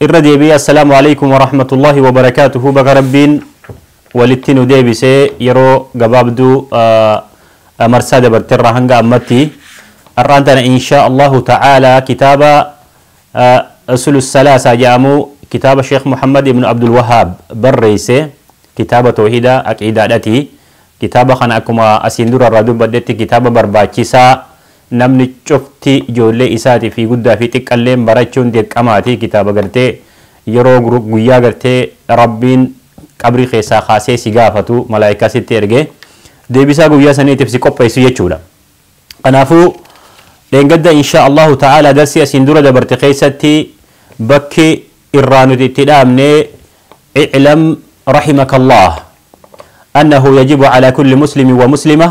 Irra deebi'ee Assalaamu Aleykum Warahmatullahi Wabarakaatuhu Baga Rabbiin walitti nu deebise yeroo gabaabduu marsaa dabarte irraa hanga ammatti har'aan tana inshaa Allahu ta'aalaa kitaaba Usulu Salaasaa jedhamu kitaaba Sheekh Muhammad ibn Abdul Wahaab barreesse kitaaba toohida aqiidaadhati kitaaba kana akkuma asiin dura irraa dubbadhetti kitaaba barbaachisaa Namni cufti ijoollee isaati fi guddaa fi xiqqalleen barachuun dirqamaati kitaaba gartee yeroo guyyaa gartee rabbiin qabrii keessaa kaasee si gaafatu malaaykaa sitti erge deebisaa guyyaa saniitiif si qopheessu jechuudha kanaafuu dheengadda inshaa allahu ta'aalaa darsii asiin dura dabarte keessatti bakki irraa nuti itti dhaabne iclam rahimakallah annahu yajibu ala kulli muslimin wa muslimah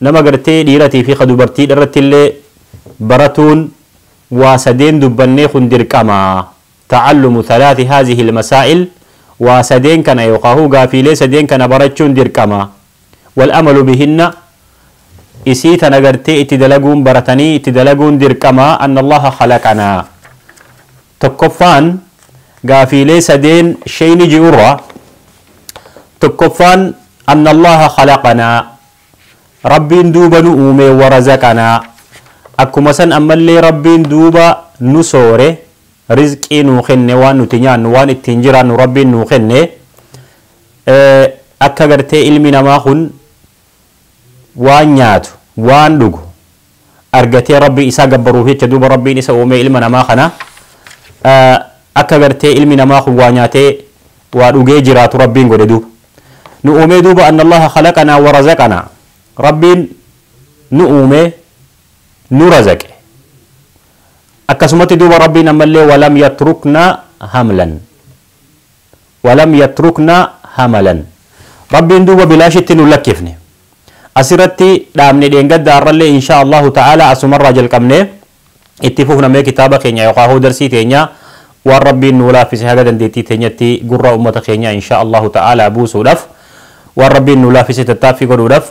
Nama gartee dhiiratii fi ka dubartiidha irrattillee baratuun waa sadeen dubbannee kun dirqama, ta'allumu thalathi haadhihi al-masaa'il, waa sadeen kana yookaa huu gaafiilee sadeen kana barachuun dirqama, wal-amalu bihinna, isii tana gartee itti dalaguun baratanii itti dalaguun dirqama, anna Allaha khalaqanaa. Tokkoffaan gaafiilee sadeen sheyni ji'urraa tokkoffaan anna Allaha khalaqanaa Rabbiin duuba nu uumee wa razaqanaa akkuma san ammallee Rabbiin duuba nu soore rizqii nuu kenne waan nuti nyaannu waan ittiin jiraannu Rabbiin nuu kenne akka gartee ilmi namaa kun waan nyaatu waan dhugu argatee Rabbii isaa gabbaruuf jecha duuba Rabbiin isa uumee ilma namaa kana akka gartee ilmi namaa kun waa nyaatee waa dhugee jiraatu Rabbiin godhe duuba. Nu uumee duuba anna Allaha khalaqanaa wa razaqanaa. Rabbiin nu uumee nu razaqe. Akkasumatti duuba Rabbiin ammallee walam yatruknaa hamlan. walam yatruknaa hamalan Rabbiin duuba bilaashitti nun lakkifne. Asirratti dhaabne dheengadda har'allee inshaa Allaahu ta'aalaa asumarraa jalqabnee itti fufna mee kitaaba keenya yookaa hoo darsii teenya waan Rabbiin nuu laaffise haga dandeettii teenyatti gurra ummata keenyaa inshaa Allaahu ta'aalaa buusuudhaf waan Rabbiin nuu laaffise tattaaffii godhuudhaf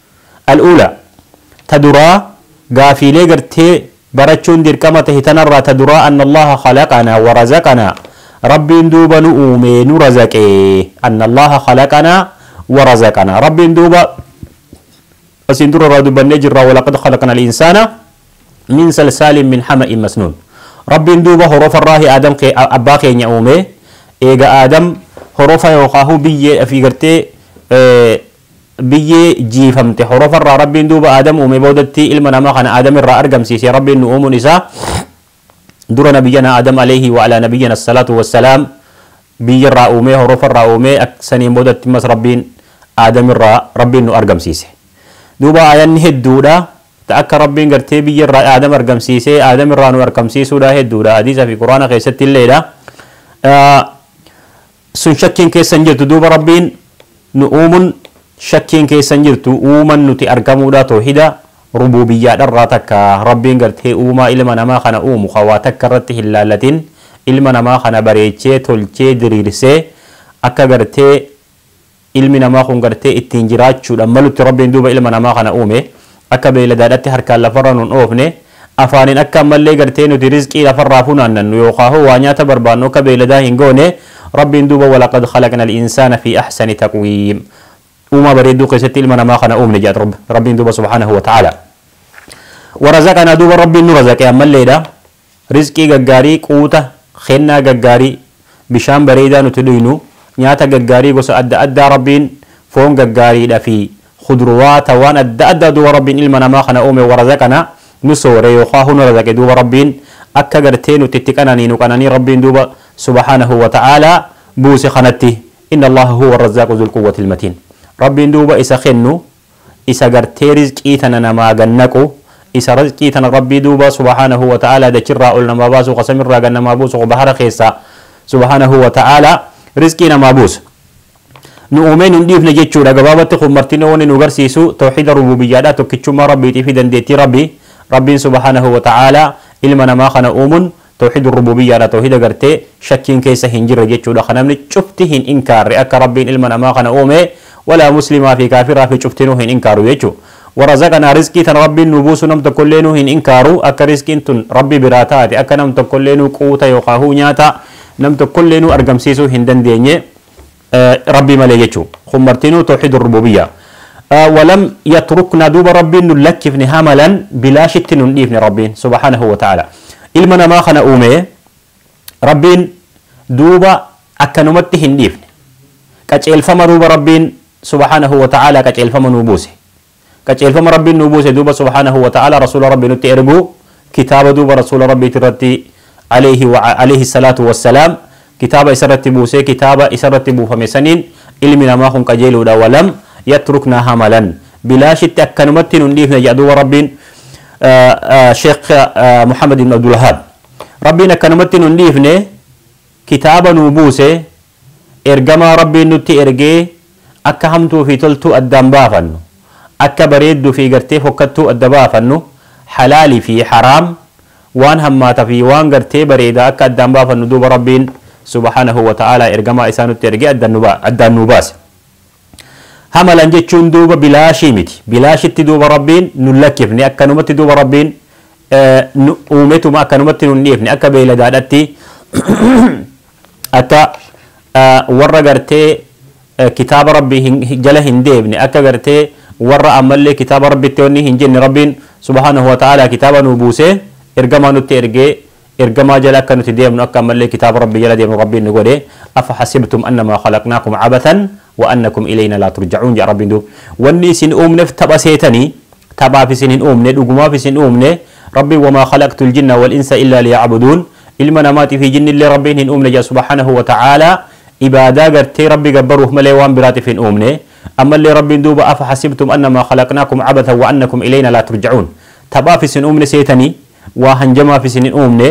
Al-uulaa, Ta duraa, Gaafiilee gartee barachuun dirqama tahe tanarraa ta duraa Anna Allaaha khalaqanaa wa razaqanaa Rabbiin duuba nu uume nu razaqe Anna Allaaha khalaqanaa wa razaqanaa Rabbiin duuba asiin dura irraa dubbannee jirra Walaqad khalaqna al-insaana min salsaalin min hama'in masnuun Rabbiin duuba horofarraahi Aadam kee abbaa keenya uume eega Aadam horofa yookaahuu biyyee fi gartee Biyyee jiifamte horofarraa Rabbiin duuba Aadam uumee boodatti ilma namaa kana Aadam irraa argamsiise. Rabbiin nu uumuun isaa dura Nabiyyanaa Aadam aleyhi wa alaa Nabiyyina assalaatu wassalaam biyyarraa uumee, horofarraa uumee, ak, saniin boodatti ammas Rabbiin Aadam irraa Rabbiin nu argamsiise. Duuba aayanni hedduudha ta akka Rabbiin gartee biyyarraa Aadam argamsiisee Aadam irraa nu arkamsiisuudha hedduudha hadiisa fi Qur'aana keessatti illeedha. Sun shakkiin keessa hin jirtu duuba Rabbiin nu uumun shakkiin keessa hin jirtu uuman nuti argamuudha toohida rubuubiyyaadharraa takka Rabbiin gartee uumaa ilma namaa kana uumu ka waa takka irratti hin laallatin ilma namaa kana bareechee tolchee diriirsee akka gartee Ilmi namaa kun gartee ittiin jiraachuudhaan malutti Rabbiin duuba ilma namaa kana uume. Akka beeyladaadhatti harkaan lafarra nun oofne. Afaaniin akka ammallee gartee nuti rizqii lafarraa funaannannu yookaahuu waa nyaata barbaannu akka beeyladaa hin goone. Rabbiin duuba walaqad khalaqnal insaana fii ahsani taqwiim. Uumaa bareedduu keessatti ilma namaa kana uumne jedha Rabbi. Rabbiin duuba subhaanahu wa ta'aalaa. Warazaqanaa duuba Rabbiin nu razaqe ammalleedha. Rizqii gaggaarii, quuta, kennaa gaggaarii, bishaan bareedaa nuti dhuynu, nyaata gaggaarii gosa adda addaa Rabbiin foon gaggaariidha fi khudruwaata waan adda addaa duuba Rabbiin ilma namaa kana uume warazaqanaa nu soore yookaahu nu razaqe duuba Rabbiin akka gartee nuti itti qananiinu qananii Rabbiin duuba subhaanahu wa ta'aalaa buuse kanatti inna Allaaha huwa arrazaaqu zul quwwatil matiin Rabbiin duuba isa kennu isa gartee rizqii tana namaa gad naqu, isa rizqii tana Rabbii duuba subhaanahu wa ta'aalaa dachirraa ol namaa baasu ka samirraa gad namaa buusu ka bahara keessaa subhaanahu wa ta'aalaa rizqii namaa buusu nu uumee nun dhiifne jechuudha gabaabatti kun martinuu wanni nu garsiisu tawhiida rubuubiyyaadhaa tokkichummaa Rabbiitiifi dandeettii Rabbii Rabbiin subhaanahu wa ta'aalaa ilma namaa kana uumun Tawhiidul Rubuubiyyaadha tawhiida gartee shakkiin keessa hin jirre jechuudha ka namni cufti hin inkaarre akka Rabbiin ilma namaa kana uume walaa muslimaa fi kaafiraa fi cuftinuu hin inkaaru jechu. Warazaqanaa rizqii tana Rabbiin nuu buusu nam tokkolleenuu hin inkaaru akka rizqiin tun Rabbi biraa taate akka nam tokkolleenuu quuta yookaa huu nyaata nam tokkolleenuu argamsiisuu hin dandeenye. Rabbii malee jechu. Kun martinuu towhiidul rubuubiyya. Walam yatrukna duuba Rabbiin nun lakkifne hamalan bilaashitti nun dhiifne Rabbiin subhaanahu wa ta'aala. Ilma namaa kana uume Rabbiin duuba akkanumatti hin dhiifne. Qaceelfama duuba Rabbiin subhaanahu wa ta'aala qaceelfama nuu buuse. Qaceelfama Rabbiin nuu buuse duuba subhaanahu wa ta'aalaa Rasuula Rabbii nutti erguu, kitaaba duuba Rasuula Rabbiiti irratti aleyhi wa aleyhi salaatu wa salaam kitaaba isa irratti buusee kitaaba isa irratti buufame saniin ilmi namaa kun qajeeluudha walam yatruknaa hamalan bilaashitti akkanumatti nun dhiifne jedha duuba Rabbiin Sheikh Muhammad ibn Abdul Wahaab. Rabbiin akkanumatti nun dhiifne kitaaba nuu buuse Ergamaa Rabbiin nutti ergee akka hamtuu fi toltuu addaan baafannu, akka bareeddu fi gartee fokkattuu adda baafannu, halaal fi haraam, waan hammaata fi waan gartee bareeda akka addaan baafannu duuba Rabbiin subhaanahu wa ta'aalaa ergamaa isaa nutti ergee addaan nuu baase. Hamalan jechuun duuba bilaashii miti. Bilaashitti duuba Rabbiin nun lakkifne akkanumatti duuba Rabbiin nu uumetuma akkanumatti nun dhiifne akka beeyladaadhatti akka warra gartee kitaaba Rabbi jala hin deebne akka gartee warra ammallee kitaaba Rabbitti wanni hin jenne Rabbiin subhaanahu wa ta'aalaa kitaaba nuu buusee ergamaa nutti ergee Ergamaa jala akka nuti deemnu akka ammallee kitaaba Rabbii jala deemnu Rabbiin nu godhe afa hasibtum annamaa khalaqnaakum abathan wa annakum ileeynaa laa turjacuun jedha Rabbiin duub wanni isin uumnef tapha seetanii taphaaf isin hin uumne dhugumaaf isin uumne Rabbiin wamaa khalaqtul jinna wal insa illaa liya'buduun ilma namaatii fi jinnillee Rabbiin hin uumne jedha subhaanahu wa ta'aalaa ibaadaa gartee Rabbi gabbaruuf malee waan biraatif hin uumne ammallee Rabbiin duuba afa hasibtum annamaa khalaqnaakum abathan wa annakum ileeynaa laa turjacuun taphaaf isin uumne seetanii waa hanjamaaf isin hin uumne,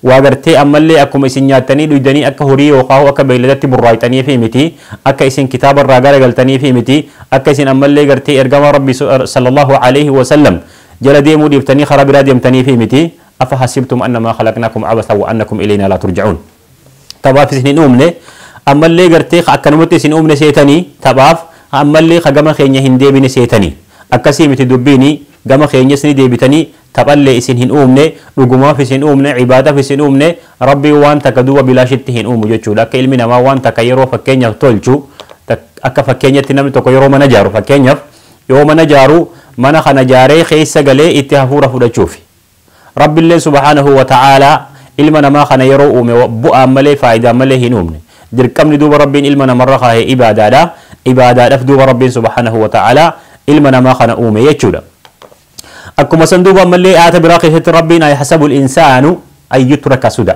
waa gartee ammallee akkuma isin nyaattanii dhuydanii akka horii yookaahuu akka beeyladatti burraayxaniifii miti, akka isin kitaaba irraa garagaltaniifii miti, akka isin ammallee gartee Ergamaa Rabbii, Sallallaahu aleyhi wa sallam, jala deemuu dhiiftanii karaa biraa deemtaniifii miti, Afa hasibtum annamaa khalaqnaakum abathan wa annakum ileeynaa laa turja'uun. taphaaf isin hin uumne ammallee gartee ka akkanumatti isin uumne seetanii taphaaf ammallee ka gama keenya hin deebine seetanii akkasii miti dubbiini gama keenyas ni deebitanii taphallee isin hin uumne dhugumaaf isin uumne cibaadaf isin uumne rabbiin waan takka duuba bilaashitti hin uumu jechuudha akka ilmi namaa waan takka yeroo fakkeenyaaf tolchu akka fakkeenyatti namni tokko yeroo mana jaaru fakkeenyaaf yoo mana jaaru mana kana jaaree keessa galee itti hafuura fudhachuufi Rabbilleen subhaanahu wa ta'aalaa ilma namaa kana yeroo uume bu'aan malee faayidaan malee hin uumne. Dirqamni duuba Rabbiin ilma namarra kaahe ibaadaadha. Ibaadaadhaf duuba Rabbiin subhaanahu wa ta'aalaa ilma namaa kana uume jechuudha. Akkuma san duuba ammallee aayata biraa keessatti Rabbiin ayahsabul insaanu an yutraka suda.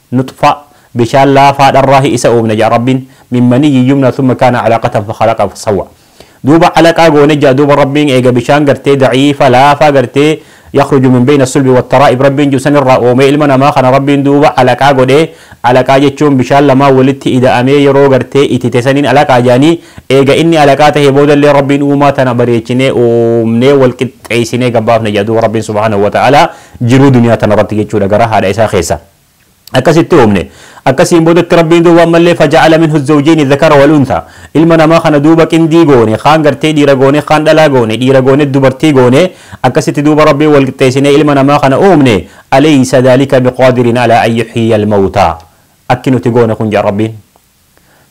Nuxfa, bishaan laafaa dharraahi isa uumne ja'a Rabbiin, min maniyyin yumna thumma kaana calaqatan fakhalaqa fasawwa. Duuba calaqaa goone ja'a duuba Rabbiin eega bishaan gartee daciifa, laafaa gartee yakhruju min beyna sulbi wattaraa'ib Rabbiin ji'u sanirraa uumee ilma namaa kana Rabbiin duuba calaqaa godhee, calaqaa jechuun bishaan lamaan walitti ida'amee yeroo gartee itite saniin calaqaa ja'anii, eega inni calaqaa tahe boodallee Rabbiin uumaa tana bareechinee uumnee wal qixxeeysinee gad baafne ja'a duuba Rabbiin subhaanahu wa ta'aalaa jiruu duniyaa tanarratti jechuudha garaa haadha isaa keessa. akkasitti uumne. Akkasiin boodatti Rabbiin duuba ammallee faja'ala minhu zawjayni dhakara wal untha. Ilma namaa kana duuba qindii goone, kaan gartee dhiira goone, kaan dhalaa goone, dhiira goone dubartii goone, akkasitti duuba Rabbiin wal qixxeessinee ilma namaa kana uumne. Aleysa dhaalika biqaadirin alaa an yuhyiya almawtaa. Akki nuti goone kun ja'a Rabbiin.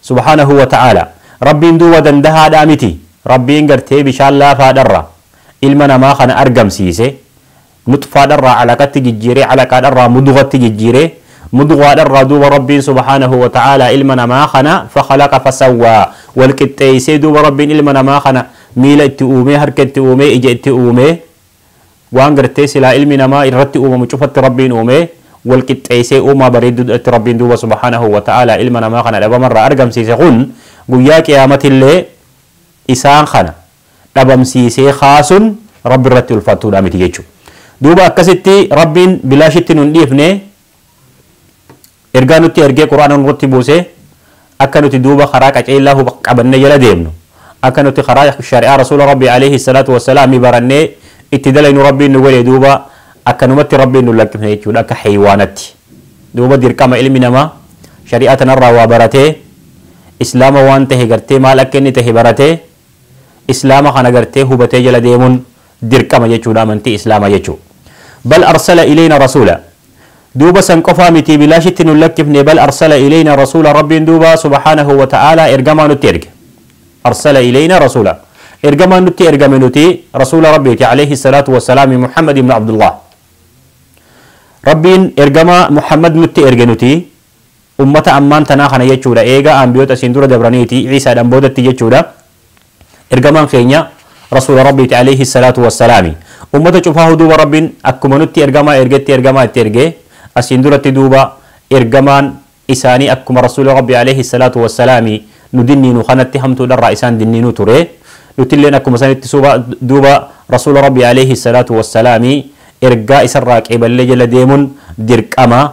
subhaanahu wa ta'aalaa. Rabbiin duuba dandahaadhaa miti. Rabbiin gartee bishaan laafaadharra ilma namaa kana argamsiise, nuxfaadharraa alaqatti jijjiiree, alaqaadharraa mudghatti jijjiiree, mudghaadharraa duuba Rabbiin subhaanahu wa ta'aalaa ilma namaa kana fakhalaqa fasawwaa, wal qixxeeysee duuba Rabbiin ilma namaa kana miila itti uumee, harka itti uumee, ija itti uumee, Waan gartee silaa ilmi namaa irratti uumamu cufatti Rabbiin uume, wal qixxeessee uumaa bareedduu dha tti Rabbiin duuba subhaanahu wa ta'aalaa ilma namaa kana dhabama irraa argamsiise kun guyyaa qiyaamatti illee isaan kana dhabamsiisee kaasun Rabbi irratti ulfaattuu dha miti jechuudha. Duuba akkasitti Rabbiin bilaashitti nu hin dhiifne, Ergaa nutti ergee Qur'aana nurratti buusee akka nuti duuba karaa qaceellaa hub qabannee jala deemnu, akka nuti karaa shari'aa Rasuula Rabbii aleyhi salaatu wa salaami barannee itti dalaynu Rabbiin nu godhe duuba akkanumatti Rabbiin nun lakkifne jechuudha akka haywaanatti. Duuba dirqama ilmi namaa shari'aa tanarraa waa baratee Islaama waan tahe gartee maal akka inni tahe baratee Islaama kana gartee hubatee jala deemun dirqama jechuudha amantii islaama jechu bal arsala ileeyna rasuula duuba san qofaa mitii bilaashitti nun lakkifne bal arsala ileeyna rasuula rabbiin duuba subhaanahu wa ta'aalaa ergamaa nutti erge arsala ileeyna rasuula ergamaan nutti ergame nuti rasuula rabbiiti alayhi salaatu wassalaami muhammad ibnu abdullaah rabbiin ergamaa muhammad nutti erge nuti Ummata ammaan tanaa kana jechuudha. Eegaa Anbiyoota isin dura dabraniiti, Iisaadhaan boodatti jechuudha. Ergamaan keenya Rasuula Rabbiiti aleyhi salaatu wa salaami. Ummata cufaahu duuba Rabbiin akkuma nutti ergamaa ergetti ergamaa itti erge, asiin duratti duuba ergamaan isaanii akkuma Rasuula Rabbii aleyhi salaatu wa salaami nu dinniinu kanatti hamtuudharraa isaan dinniinu ture. Nutilleen akkuma sanitti suuba duuba Rasuula Rabbii aleyhi salaatu wa salaami ergaa isarraa qeeballee jala deemun dirqama.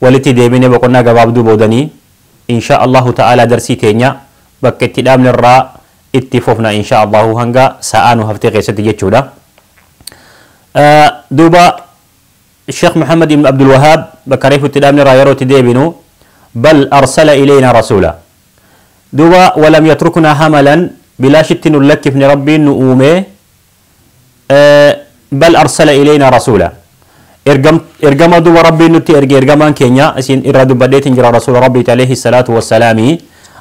Walitti deebinee boqonnaa gabaabduu boodanii inshaa Allaahu ta'aalaa darsii teenya bakka itti dhaabne irraa itti fufna inshaa Allaahu hanga sa'aa nu haftee keessatti jechuudha. Duuba Sheekh Muhammad ibn Abdul Wahaab bakka reefu itti dhaabne irraa yeroo itti deebinu bal arsala ileeynaa rasuula. Duuba walam yatruknaa hamalan bilaashitti nun lakkifne Rabbiin nu uumee bal arsala ileynaa rasuula Ergam- ergamaa duuba rabbiin nutti erge ergamaan keenya isin irraa dubbadheetiin jira rasuula rabbiiti alayhi salaatu wassalaami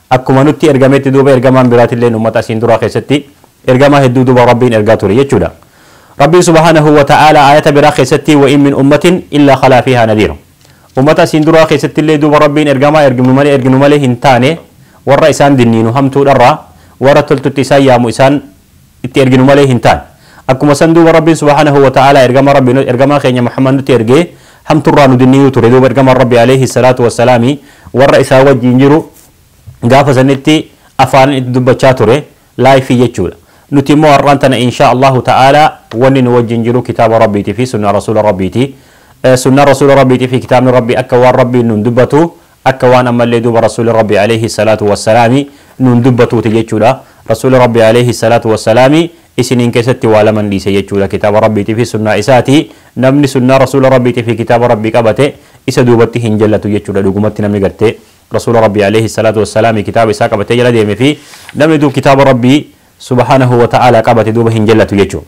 akkuma nutti ergametti duuba ergamaan biraatilleen ummata isin duraa keessatti ergamaa hedduu duuba rabbiin ergaa ture jechuudha rabbiin subhaanahu wa ta'aalaa aayata biraa keessatti wa in min ummatin illaa khalaa fiihaa nadiir ummata isin duraa keessatti illee duuba rabbiin ergamaa erginu malee erginu malee hin taane warra isaan dinniinu hamtuudharraa warra toltutti isaan yaamu isaan itti erginu malee hin taane. Akkuma san duuba Rabbiin subhaanahu wa ta'aalaa ergamaa Rabbii nu, ergamaa keenya Muhammad nutti ergee hamturraa nu dinniyuu ture. Duuba ergamaan Rabbii aleeyhi salaatu wa salaami warra isaa wajjiin jiru gaafa sanitti afaanin itti dubbachaa ture, live jechuudha. Nuti immoo har'aan tana inshaa Allaahu ta'aalaa wanni nu wajjiin jiru kitaaba Rabbiitii fi sunnaa Rasuula Rabbiiti. Sunnaan Rasuula Rabbiitii fi kitaabni Rabbii akka waan Rabbiin nuun dubbatu akka waan ammallee duuba Rasuulli Rabbii Aleeyhi Salaatu Wassalaami nuun dubbatuuti jechuudha. Rasuulli Rabbii Aleeyhi Salaatu Wassalaami isiniin keessatti waa laman dhiise jechuudha kitaaba Rabbiitii fi sunnaa isaati. Namni sunnaa Rasuula Rabbiitii fi kitaaba Rabbii qabate isa duubatti hin jallatu jechuudha dhugumatti namni gartee Rasuula Rabbii Aleeyhi Salaatu Wassalaami kitaaba isaa qabatee jala deeme fi namni duub kitaaba Rabbii Subhaanahu Wa Ta'aalaa qabate duuba hin jallatu jechuudha.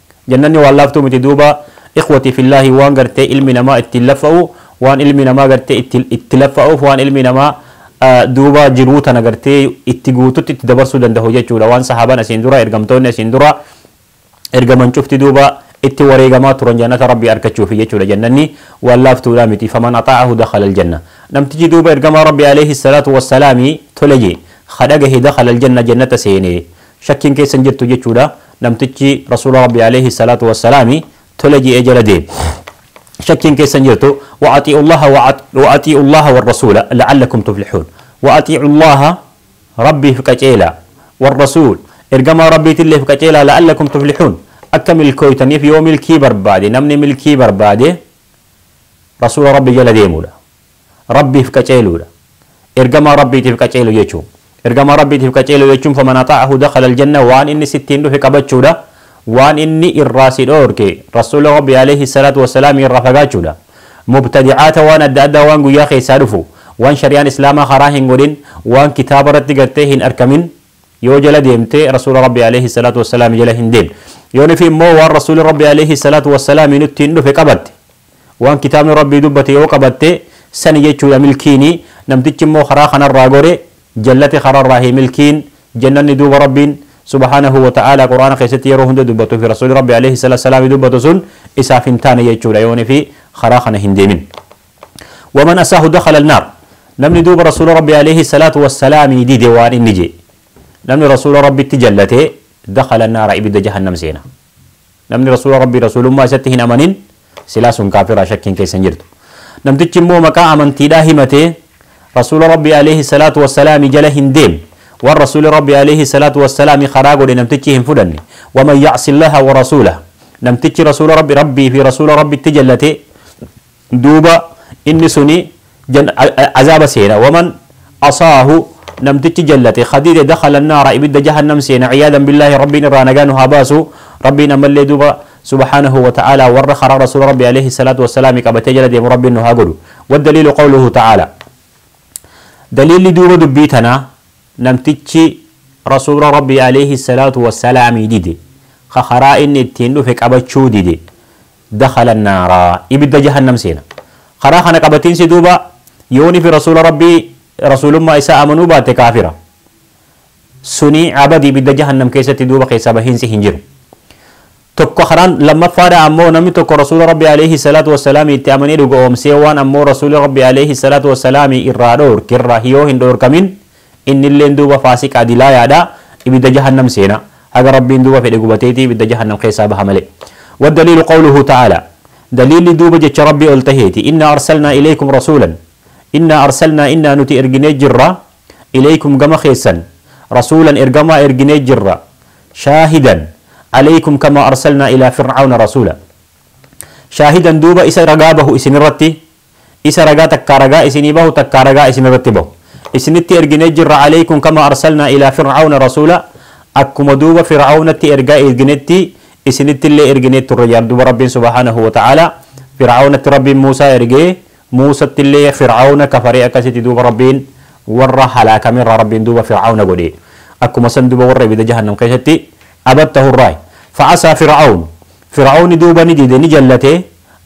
Jannanni waan laaftuu miti duuba ikhwatii fillaahi waan gartee ilmi namaa ittiin laffa'u waan ilmi namaa gartee itti itti laffa'uuf waan ilmi namaa duuba jiruu tana gartee itti guututti itti dabarsuu dandahu jechuudha waan sahaaban asiin dura ergamtoonni asiin dura ergaman cufti duuba itti wareegamaa turan jannata rabbii arkachuufi jechuudha jannanni waan laaftuudha miti faman axaa'ahu dakhala aljanna namtichi duuba ergamaa rabbii aleeyhi salaatu wassalaami tole jee ka dhagahe dakhala aljanna jannata seene shakkiin keessa hin jirtu jechuudha. Namtichi Rasuula Rabbi alayhi salaatu wassalaami tole je'ee jala deeme. shakkiin keessa hin jirtu. Wa atii'u Allaha wa at- wa atii'u Allaha wa rasuula la'allakum tuflihuun. Wa atii'u Allaha Rabbiif qaceelaa. Wa rasuul ergamaa Rabbiitilleef qaceelaa la'allakum tuflihuun. Akka milkooytaniif yoo milkii barbaade namni milkii barbaade Rasuula Rabbi jala deemuudha. Rabbiif qaceeluudha. Ergamaa Rabbiitiif qaceelu jechu. Ergamaa Rabbiitiif qaceelu jechuun faman axaa'ahu dakhala aljanna waan inni sittiin dhufe qabachuudha. Waan inni irraa si dhoorke Rasuula Rabbii aleyhi salaatu wassalaami irraa fagaachuudha. Mubtadi'aata waan adda addaa waan guyyaa keessaa dhufu, waan shari'aan Islaamaa haraa hin godhin, waan kitaaba irratti gartee hin arkamin yoo jala deemte Rasuula Rabbii aleyhi salaatu wassalaami jala hin deemtu. Yoo nufi immoo waan Rasuuli Rabbii aleyhi salaatu wassalaami nuttiin dhufe qabatte. Waan kitaabni Rabbii dubbate yoo qabatte, sani jechuudha milkiini, namtichi immoo karaa kanarraa gore, jallate karaarraa hin milkiin, jannanni duuba Rabbiin, subhaanahu wa ta'aalaa, qur'aana keessatti yeroo hunda dubbatu fi rasuulli Rabbii aleyhi salaatu salaami dubbatu sun isaaf hin taane jechuudha yoo inni fi karaa kana hin deemin. Waman asaahu dakhala annaar. Namni duuba rasuula Rabbii aleyhi salaatu wa salaami dide waan inni je. Namni rasuula Rabbitti jallate dakhala annaara ibidda jahannam seena. Namni Rasuula Rabbii Rasuulummaa isatti hin amanin silaa sun kaafira shakkiin keessa hin jirtu. Namtichi immoo maqaa amantiidhaa himatee Rasuula Rabbii Aleeyhi Salaatu Wassalaami jala hin deemne, waan Rasuuli Rabbii Aleeyhi Salaatu Wassalaami karaa godhe namtichi hin fudhanne, Waman Ya'si Allaha Warasuulahu, namtichi Rasuula Rabbi, Rabbii fi Rasuula Rabbitti jallatee, Duuba inni suni azaaba seena. Waman asaahu namtichi jallate ka dide dakhala annaara ibidda jahannam seena ciyaadan billaahi Rabbiin irraa nagaa nu haa baasu. Rabbiin ammallee duuba subhaanahu wa ta'aalaa warra karaa rasuula Rabbii aleyhi salaatu wa salaami qabatee jala deemu Rabbiin nu haa godhu. Waddaliilu qawluhu ta'aalaa Daliilli duuba dubbii tanaa namtichi rasuula Rabbii aleyhi salaatu wa salaami dide ka karaa inni ittiin dhufe qabachuu dide dakhala annaara, ibidda jahannam seena. Karaa kana qabatiinsi duuba yooni fi rasuula Rabbii rasuulummaa isaa amanuu baatte kaafira. Suni abadi ibidda jahannam keessatti duuba keessaa bahiinsi hin jiru. Tokko karaan lammaffaadha ammoo namni tokko rasuula Rabbii aleyhi salaatu wassalaami itti amanee dhuga'oomsee waan ammoo rasuuli Rabbii aleyhi salaatu wassalaami irraa dhoorke irraa yoo hin dhoorkamin Innilleen duuba faasiqa dilaayaadha, ibidda jahannam seena, haga Rabbiin duuba fedhe gubateeti ibidda jahannam keessaa baha malee. Waddaliilu qawluhu ta'aalaa, daliilli duuba jecha Rabbii ol taheeti, Innaa arsalnaa ilaykum rasuulan, Innaa arsalnaa innaa nuti erginee jirra, ilaykum gama keessan, rasuulan ergamaa erginee jirra, shaahidan, alaykum kamaa arsalnaa ilaa fir'awna rasuula, shaahidan duuba isa ragaa bahu isinirratti, Isa ragaa takkaa ragaa isinii bahu takkaa ragaa isin irratti bahu isinitti erginee jirra aleykum kamaa arsalnaa ilaa fir'awna rasuulaa akkuma duuba fir'awnatti ergaa erginetti isinitti illee erginee turre jedhan duuba Rabbiin subhaanahu wa ta'aalaa fir'awnatti Rabbiin Muusaa ergee Muusatti illee fir'awna kafaree akkasitti duuba Rabbiin warra halaakame irraa Rabbiin duuba fir'awna godhee akkuma san duuba warra ibidda jahannam keessatti abad tahu irraa fa'asaa fir'awn fir'awni duuba ni dide ni jallate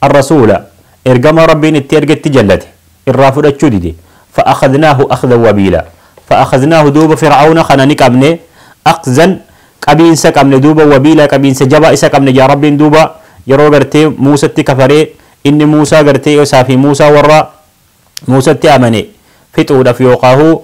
arrasuula Ergamaa Rabbiin itti ergetti jallate, irraa fudhachuu dide, fa'akhadhnaahu akhdan wabiilaa, fa'akhadhnaahu duuba fir'awna kana ni qabne, akhzan qabiinsa qabne duuba wabiilaa qabiinsa jabaa isa qabne ja'a Rabbiin duuba yeroo gartee Muusatti kafaree inni Muusaa gartee isaa fi Muusaa warra Muusatti amane fixuudhaf yookaahu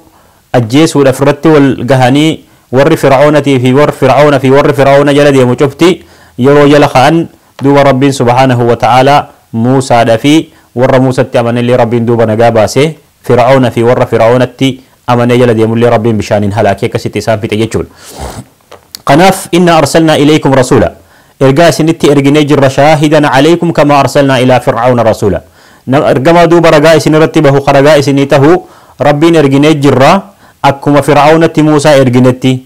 ajjeesuudhaf irratti wal gahanii warri fir'awnatii fi warri fir'awna fi warri fir'awna jala deemu cufti yeroo jala ka'an Duuba Rabbiin subhaanahu wa ta'aalaa Muusaadhafi worra Muusatti amanellee Rabbiin duuba nagaa baase, Fir'awnafi worra Fir'awnatti amanee jala deemullee Rabbiin bishaaniin halaakee akkasitti isaan fixe jechuudha. Kanaaf innaa arsalnaa ilaykum rasuula, ergaa isinitti erginee jirra shaahidan alaykum kamaa arsalnaa ilaa Fir'awna rasuula. Nama ergamaa duuba ragaa isinirratti bahu ka ragaa isinii tahu Rabbiin erginee jirra akkuma Fir'awnatti Muusaa erginetti.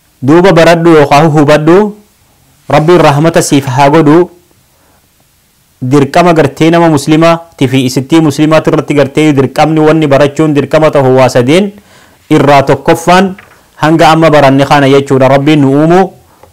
Duuba baradhu yookaa hubadhu Rabbiin rahmata siif haa godhu dirqama gartee nama muslima tifi isittii muslimaa tirratti gartee dirqamni wanni barachuun dirqama tahu waa sadeen irraa tokkoffaan hanga amma baranne kana jechuudha Rabbiin nu uumu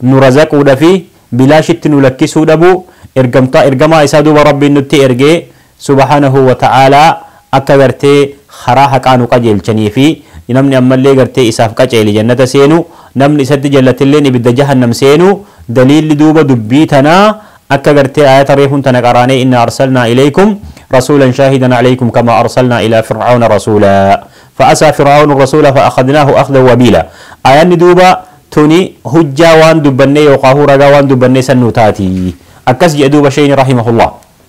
nu razaquu dhafi bilaashitti nu lakkisuu dhabu ergamtaa ergamaa isaa duuba Rabbiin nutti ergee subhaanahu wa ta'aalaa akka gartee karaa haqaa nu qajeelchanii fi namni ammallee gartee isaaf qaceele jannata seenu, namni isatti jallatilleen ibidda jahannam seenu, daliilli duuba dubbii tanaa akka gartee aayata reefun tana qaraanee innaa arsalnaa ilaykum rasuulan shaahidan alaykum kamaa arsalnaa ilaa fir'awna rasuula fa'asaa fir'awnu rasuula fa'akhadnaahu akhdan wabiila aayanni duuba tuni hujjaa waan dubbannee yookaahuu ragaa waan dubbannee san nuu taati akkas je'e duuba sheyni rahimahullaah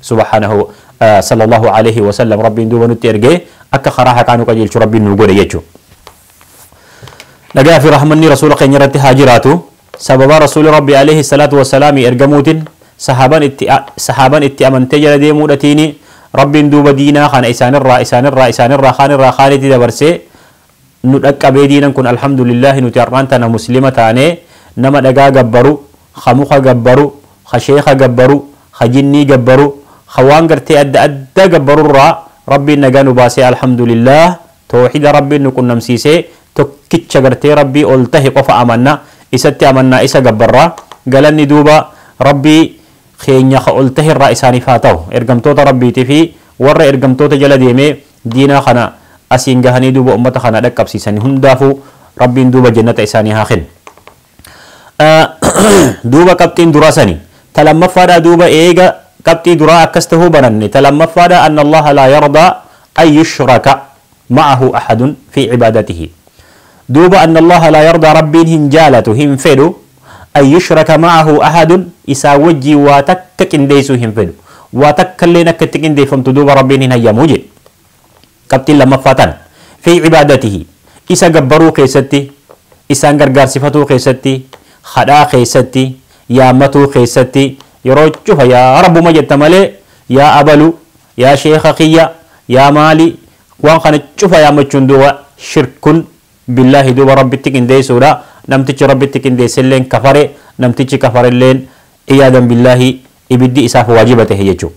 subhaanahu sallallahu aleyhi wasallam rabbiin duuba nutti ergee akka karaa haqaa nu qajeelchu rabbiin nu godhe jechu nagaa fi rahmanni rasuula keenya irratti haa jiraatu sababa rasuuli rabbi aleyhi salaatu wasalaami ergamuutin sahaaban itti sahaaban itti amantee jala deemuudhatiini rabbiin duuba diinaa kana isaanirraa isaanirraa isaanirraa kaanirraa kaanitti dabarsee nu dhaqqabee diinan kun alhamdulillaahi nuti har'aan tana muslima taanee nama dhagaa gabbaru kha mukha gabbaru, kha sheekha gabbaru, kha jinnii gabbaru, kha waan gartee adda addaa gabbarurraa Rabbiin nagaa nu baasee Alhamdulillaah toohida Rabbiin nu qunnamsiisee tokkicha gartee Rabbii ol tahe qofa amanna isatti amannaa isa gabbarra galanni duuba Rabbii kheenya kha ol taherraa isaaniif haa tahu ergamtoota Rabbiitifi warra ergamtoota jala deemee diinaa khana asiin gahanii duuba ummata khana dhaqqabsiisani hundaafuu Rabbiin duuba jannata isaanii haa khennu. Duuba qabxiin duraa sani. Ta lammaffaadhaa duuba eega qabxii duraa akkas tahuu baranne ta lammaffaadhaa anna Allaha laa yardaa an yushraka ma'ahu ahadun fii cibaadatihi. Duuba anna Allaha laa yardaa Rabbiin hin jaalatu, hin fedhu, an yushraka ma'ahu ahadun isaa wajjiin waa takka qindeeysuu hin fedhu. Waa takkalleen akka itti qindeeyfamtu duuba Rabbiin hin hayyamu jee. Qabxiin lammaffaa tana. Fii cibaadatihi. Isa gabbaruu keessatti, isaan gargaarsifatuu keessatti, khadhaa keessatti, yaammatuu keessatti, yeroo cufa yaa Rabbuma jetta malee yaa abalu, yaa sheekha kiyya, yaa maali, waan kana cufa yaammachuun duuba shirkun billaahi duuba Rabbitti qindeessuudha. Namtichi Rabbitti qindeesselleen kafare, namtichi kafarelleen, iyaadan billaahi, ibiddi isaaf waajiba tahe jechuudha.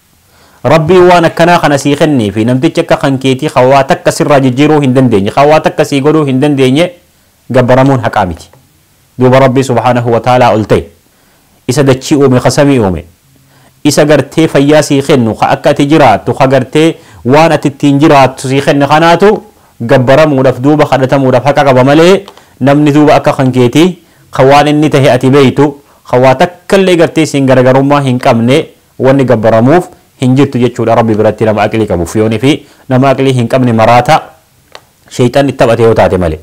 Rabbiin waan akkanaa kana sii kenneefi namtichi akka kan keetii kan waa takka sirraa jijjiiruu hin dandeenye, kan waa takka sii godhuu hin dandeenye gabbaramuun haqaa miti. Duuba Rabbii subhaanahu wa ta'aalaa ol ta'e, isa dachii uume, ka samii uume, isa gartee fayyaa sii kennu, ka akka ati jiraattu, ka gartee waan ati ittiin jiraattu sii kenne kanaatu gabbaramuudhaaf duuba kadhatamuudhaaf haqa qaba malee namni duuba akka kan keetii ka waan inni tahe ati beektu, ka waa takkallee gartee isin garagarummaa hin qabne Wanni gabbaramuuf hin jirtu jechuudha Rabbi biratti nama aqlii qabuuf. Fiyoonii fi nama aqlii hin qabne maraata sheyxanni itti taphate yoo taate malee.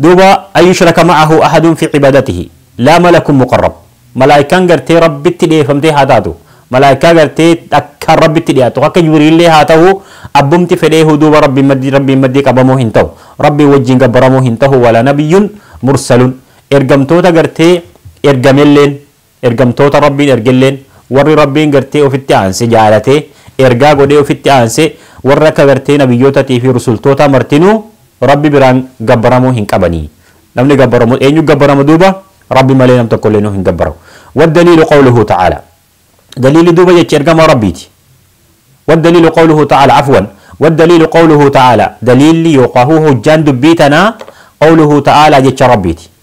Duuba an yushraka ma'ahu ahadun fi cibaadatihi laa malakun muqarrab malaaykaan gartee Rabbitti dhiyeeffamtee haa taatu, malaaykaa gartee akkaan Rabbitti dhiyaattu akka Jibriillee haa tahu abbumti fedheehu duuba Rabbiin maddii Rabbiin maddii qabamuu hin tahu. Rabbiin wajjiin gabbaramuu hin tahu wala nabiyyun mursalun ergamtoota gartee ergamelleen Ergamtoota Rabbiin ergelleen warri Rabbiin gartee ofitti aanse jaalatee ergaa godhee ofitti aanse warra akka gartee nabiyyootatii fi rusultootaa martinuu Rabbi biraan gabbaramoo hin qabani. Namni gabbaramu eenyu gabbarama duuba? Rabbi malee nam tokkolleenuu hin gabbaramu. Waddaliilu qawluhu ta'aalaa. Daliilli duuba jecha ergamaa Rabbiiti. Waddaliilu qawluhu ta'aalaa afwan. Waddaliilu qawluhu ta'aalaa. Daliilli yookaa hujjaan dubbii tanaa qawluhu ta'aalaa jecha Rabbiiti.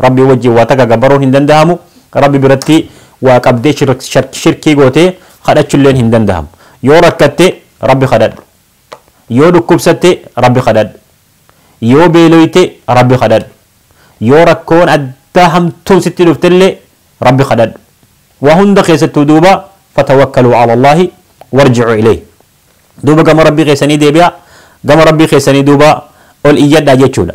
Rabbii wajjiin waa takka gabaruun hin dandahamu, Rabbi biratti waa qabdee shirkii gootee kadhachulleen hin dandahamu. Yoo rakkatte Rabbi kadhadhu. Yoo dhukkubsatte Rabbi kadhadhu. Yoo beeloyte Rabbi kadhadhu. Yoo rakkoon addaa hamtuun sitti dhuftellee Rabbi kadhadhu. Waa hunda keessattuu duuba fatawakkaluu cala Allaahi warjicuu ilayhi. Duuba gama Rabbii keessanii deebi'aa, gama Rabbii keessanii duuba ol iyyadhaa jechuudha.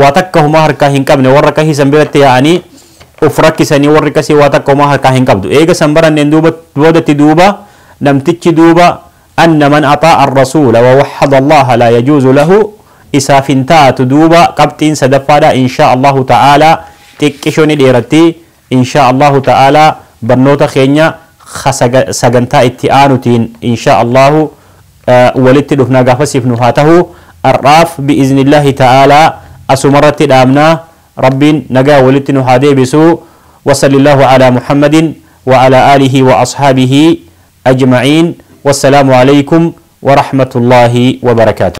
waa takka homaa harkaa hin qabne warra kasii san biratti yaa'anii of rakkisanii warri kasii waa takka homaa harkaa hin qabdu eega san baranneen duuba boodatti duuba namtichi duuba anna man axaa arrasuula wa waxada allaha laa yajuuzu lahu isaaf hin taatu duuba qabxiin sadaffaadha inshaa allahu ta'aalaa xiqqisho ni dheeratti Inshaa Allaahu ta'aalaa barnoota keenya ka sagantaa itti aanutiin inshaa Allaahu walitti dhufna gaafasiif nu haa tahu. Har'aaf bi'iznillaahi ta'aalaa asumarratti dhaabna. Rabbiin nagaan walitti nu haa deebisu. Wassalillaahu alaa Muhammadin wa alaa aalihi wa ashaabihii ajma'iin. Wassalaamu aleykum wa rahmatullaahi wa barakaatuh.